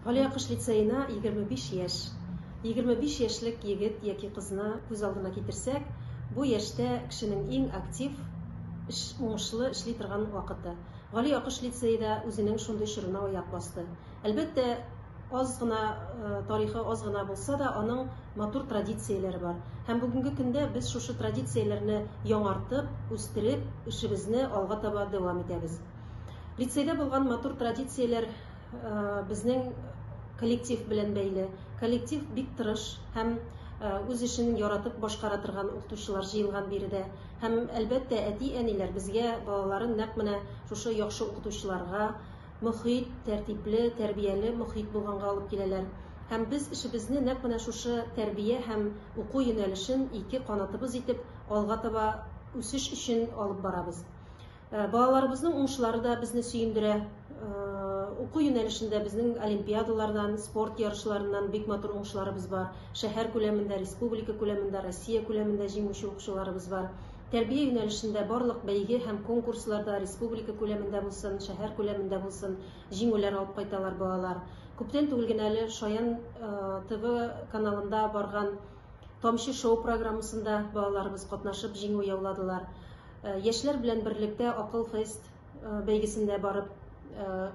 Галиакыш лицеена 25 яшь. 25 яшьлек егет яки кызны күз алдына китерсәк, бу яшьтә кешенең иң актив, эш, уңышлы эшли торган вакыты. Галиакыш лицее да үзенең шундый чорына аяк басты. Әлбәттә, аз гына тарихы аз гына булса да, аның матур традицияләре бар. Һәм бүгенге көндә без шушы традицияләрне яңартып, үстереп, эшебезне алга таба дәвам итәбез. Лицейда булган матур традицияләр безнең коллектив белән бәйле. Коллектив бик тырыш һәм үз эшен яратып башкара торган укытучылар җыелган биредә. Һәм, әлбәттә, әти-әниләр безгә балаларын нәкъ менә шушы яхшы укытучыларга, мохит, тәртипле, тәрбияле мохит булганга алып киләләр. Һәм без эшебезне нәкъ менә шушы тәрбия һәм уку юнәлешен ике канатыбыз итеп алга таба үсеш өчен алып барабыз. Э, балаларыбызның уңышлары да безне сөендерә. Э, уку юнәлешендә безнең олимпиадалардан, спорт ярышларыннан бик матур уңышларыбыз бар. Шәһәр күләмендә, республика күләмендә, Россия күләмендә җиңүче укучыларыбыз бар. Тәрбия юнәлешендә барлык бәйге һәм конкурсларда республика күләмендә булсын, шәһәр күләмендә булсын, җиңүләр алып кайталар балалар. Күптән түгел генә әле Шаян э, ТВ каналында барган Тамчы шоу программасында балаларыбыз катнашып җиңү яуладылар. Яшьләр белән берлектә Акыл фест бәйгесендә барып,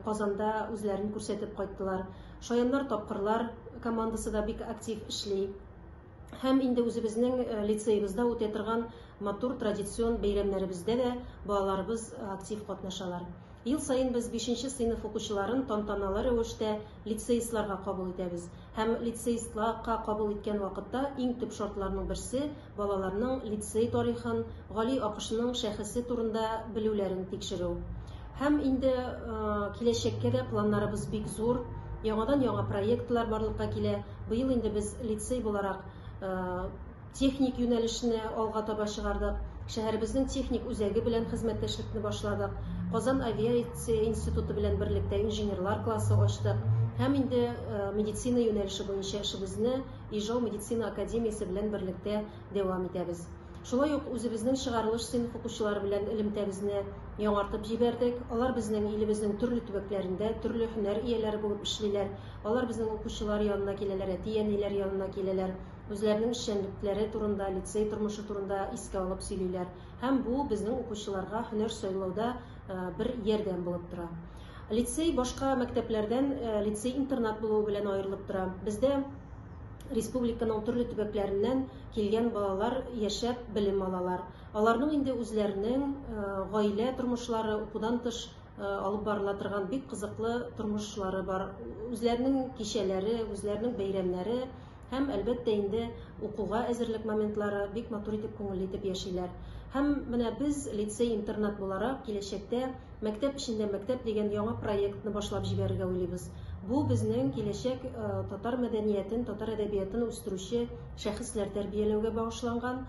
Казанда үзләрен күрсәтеп кайттылар. Шаяннар тапкырлар командасы да бик актив эшли. Һәм инде үзебезнең лицеебызда үтә торган матур традицион бәйрәмнәребездә дә балаларыбыз актив катнашалар. Ел саен без бишенче сыйныф укучыларын тантаналы рәвештә лицеистларга кабул итәбез. Һәм лицеистла ка кабул иткән вакытта иң төп шартларның берсе, балаларның лицей тарихын, Гали Акышның шәхесе турында белүләрен тикшерү. Һәм инде киләчәккә дә планнарыбыз бик зур. Яңадан-яңа проектлар барлыкка килә. Быел инде без лицей буларак техник юнәлешне алга таба чыгардык. Шәһәребезнең техник үзәге белән хезмәттәшлекне башладык. Казан авиация институты белән берлектә инженерлар классы ачтык. Һәм инде медицина юнәлеше буенча эшебезне Ижау медицина академиясе белән берлектә дәвам итәбез. Шулай ук үзебезнең чыгарылыш сыйныф укучылары белән элемтәбезне яңартып җибәрдек. Алар безнең илебезнең төрле төбәкләрендә төрле һөнәр ияләре булып эшлиләр. Алар безнең укучылар янына киләләр, әти-әниләр янына киләләр. Үзләренең эшчәнлекләре турында, лицей тормышы турында искә алып сөйлиләр. Һәм бу безнең укучыларга һөнәр сайлауда бер ярдәм булып тора. Лицей башка мәктәпләрдән лицей-интернат булуы белән аерылып тора. Бездә республиканың төрле төбәкләреннән килгән балалар яшәп белем алалар. Аларның инде үзләренең гаилә тормышлары, укудан тыш алып барыла торган бик кызыклы тормышлары бар. Үзләренең кичәләре, үзләренең бәйрәмнәре, Һәм, әлбәттә инде, укуга әзерлек моментлары бик матур итеп, күңелле итеп яшиләр. Һәм менә без, лицей-интернат буларак, киләчәктә Мәктәп эчендә мәктәп дигән яңа проектны башлап җибәрергә уйлыйбыз. Бу безнең киләчәк татар мәдәниятен, татар әдәбиятын үстерүче шәхесләр тәрбияләүгә багышланган,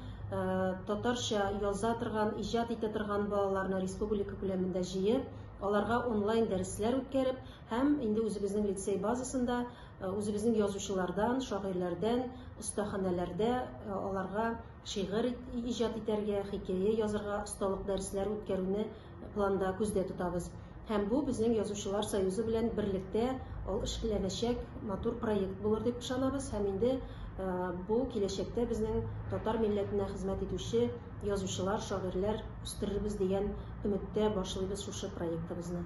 татарча яза торган, иҗат итә торган балаларны республика күләмендә җыеп, аларга онлайн дәресләр үткәреп һәм инде үзебезнең лицей базасында Үзебезнең язучылардан, шагыйрьләрдән, остаханәләрдә аларга шигырь иҗат итәргә, хикәя язарга осталык дәресләре үткәрүне планда күздә тотабыз. Һәм бу безнең язучылар союзы белән берлектә ул эшләнәчәк матур проект булыр дип ышанабыз һәм инде бу киләчәктә безнең татар милләтенә хезмәт итүче язучылар, шагыйрьләр үстерербез дигән өметтә башлыйбыз шушы проектыбызны.